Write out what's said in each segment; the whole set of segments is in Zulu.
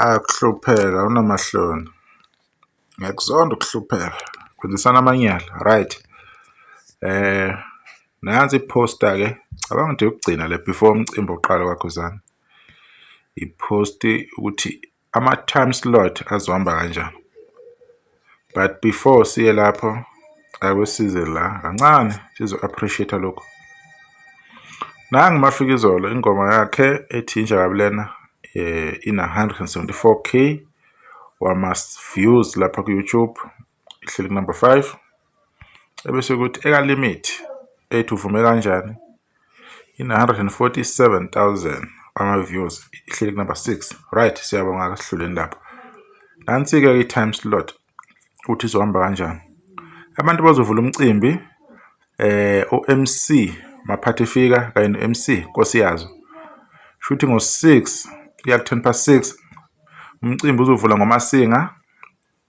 akuhlupheka unamahloni ngiyakuzonda ukuhlupheka kwenzisana amanyala right eh nansi iposter ke cabanga ukuthi yokugcina le before umcimbi oqala kwakhuzana iposti ukuthi ama-time slot azohamba kanjani but before siye lapho akwesize la kancane sizo-appreciate lokhu nangu mafika izolo ingoma yakhe ethi inja kabi lena eh, ina-174 k wama-views lapha ku-youtube ihleli kunumber 5 ebese ukuthi eka limit ethi uvume kanjani in 147000 ama views ihleli kunumber 6 right siyabonga ke sihluleni lapho nansi ke i time slot ukuthi izohamba kanjani abantu bazovula umcimbi eh uMC maphathi fika kanye noMC Nkosi yazo shuthi ngo 6 kuya 10 past 6 umcimbi uzovula ngomasinga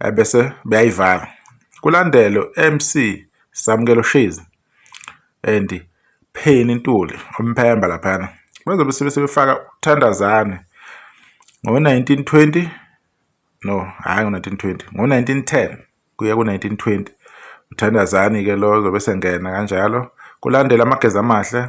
ebese beyayivala kulandelo MC Samkelo Shizi and Pheni Ntuli umphemba laphana bazobe sebefaka uthandazane ngo-1920 no hhayi ngo-1920 ngo-1910 kuya ku-1920 uthandazani-ke lo zobe sengena kanjalo kulandela amageza amahle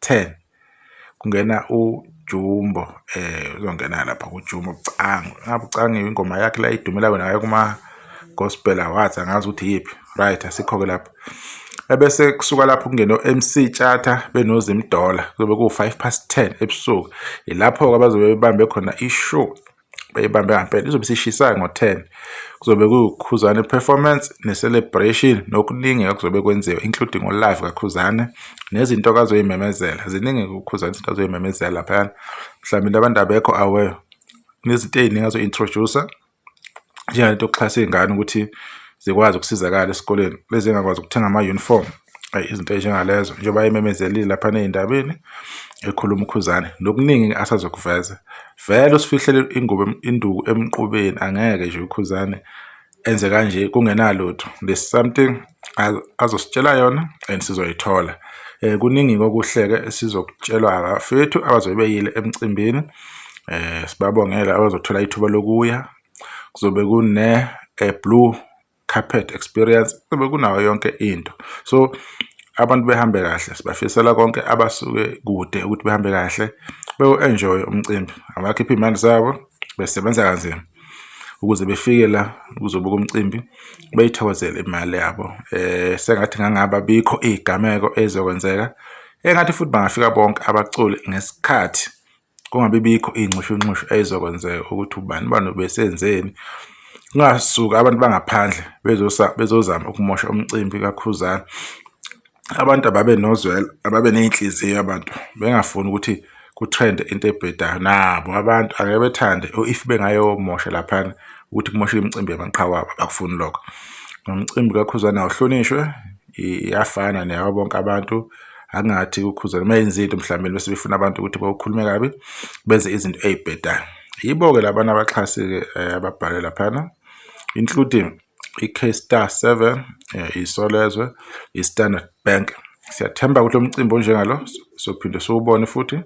10 kungena uJumbo eh uzongena lapha kuJumbo Bucango ngabe Bucango ingoma yakhe la idumela wena ngayo kuma gospel awards angazi ukuthi yiphi right asikho ke lapha ebese kusuka lapho kungena uMC Tshata benozimdola kube ku5 past 10 ebusuku ilapho ke abazobe bebambe khona ishow beyibambe ngampela izobe sishisayo ngo-10 kuzobe kuwukhuzane performance ne-celebration nokuningi okuzobe kwenziwa including olive kakhuzane nezinto akazoyimemezela ziningi kukhuzane izinto azoyimemezela laphayana mhlawumbe into abantu abekho aware nezinto ey'ningi azo-introducer njengalento yokuxhasa iy'ngane ukuthi zikwazi ukusizakala esikoleni lezi engakwazi ukuthenga ama-uniform izinto ezinjengalezo njengoba ememezelile lapha nezindabeni ekhuluma ukhuzane nokuningi asazokuveza vele usifihlele ingubo induku emqubeni angeke nje ukhuzane enze kanje kungenalutho there's something azositshela yona and sizoyithola eh kuningi kokuhleke sizokutshelwa abafethu abazobe beyile emcimbini eh sibabongela abazothola ithuba lokuya kuzobe kune eh, blue carpet experience kube kunayo yonke into so abantu behambe kahle sibafisela konke abasuke kude ukuthi behambe kahle bewu-enjoye umcimbi abakhiphe iy'mali zabo besebenza kanzima ukuze befike la kuzobuka umcimbi beyithokozele imali yabo um sengathi ngangaba bikho iy'gameko ey'zokwenzeka engathi futhi bangafika bonke abaculi ngesikhathi kungabi bikho iy'nxushunxushu ey'zokwenzeka ukuthi ubani ubani obesenzeni kungasuka abantu bangaphandle bezozama ukumosha umcimbi kakhuzana abantu ababe nozwela ababe ney'nhliziyo abantu bengafuni ukuthi kutrende into ebhedayo nabo abantu angeke bethande if bengayomosha laphana ukuthi kumoshe imicimbi yamaqhawe abo bakufuni lokho nomcimbi kakhuzana awuhlonishwe iyafana neyabo bonke abantu angathi ukhuzela uma yenza into mhlawumbe bese befuna abantu ukuthi bawukhulume kabi benze izinto ey'bhedayo yibo-ke labantu abaxhasi-ke eh, ababhale laphana including i-K-Star 7 eh, iSolezwe i-Standard Bank siyathemba ukuthi umcimbi onjengalo sophinde siwubone futhi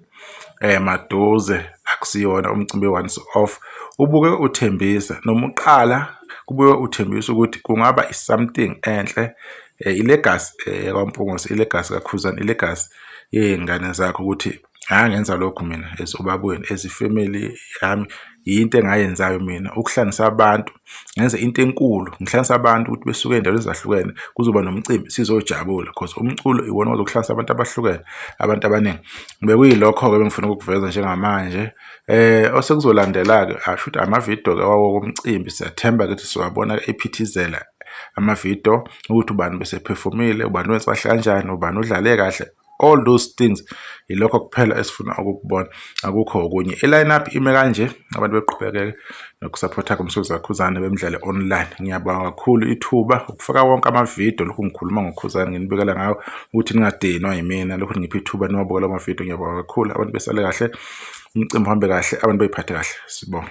eh maduze akusiyona umcimbi once off ubuke uthembise noma uqala kubuye uthembisa ukuthi kungaba something enhle eh, ilegacy eh, kwaMpungose ilegacy kaKhuzani ilegacy yey'ngane zakho ukuthi ngangenza lokhu mina as ubabweni as ifamily yami yinto engayenzayo mina ukuhlangisa abantu ngenze into enkulu ngihlanganisa abantu ukuthi besuke endaweni ezahlukene kuzoba nomcimbi sizojabula cause umculo iwona ozokuhlanganisa abantu abahlukene abantu abaningi bekuyilokho-ke bengifuna ukukuveza njengamanje eh osekuzolandela-ke asho ukuthi amavidiyo-ke wawo komcimbi siyathemba ukuthi siwabona ephithizela amavidiyo ukuthi ubani besephefumile ubani wensahle kanjani ubani udlale kahle all those things yilokho kuphela esifuna ukukubona akukho okunye i-line up ime kanje abantu beqhubekeke nokusaphotha kumsuzi kakhuzane bemdlale online ngiyabonga kakhulu ithuba ukufaka wonke amavidiyo lokhu ngikhuluma ngokhuzane nginibekela ngawo ukuthi ningadinwa yimina lokhu ngipha ithuba niwabukela amavidiyo ngiyabonga kakhulu abantu besale kahle umcimbi uhambe kahle abantu beyiphathe kahle sibonga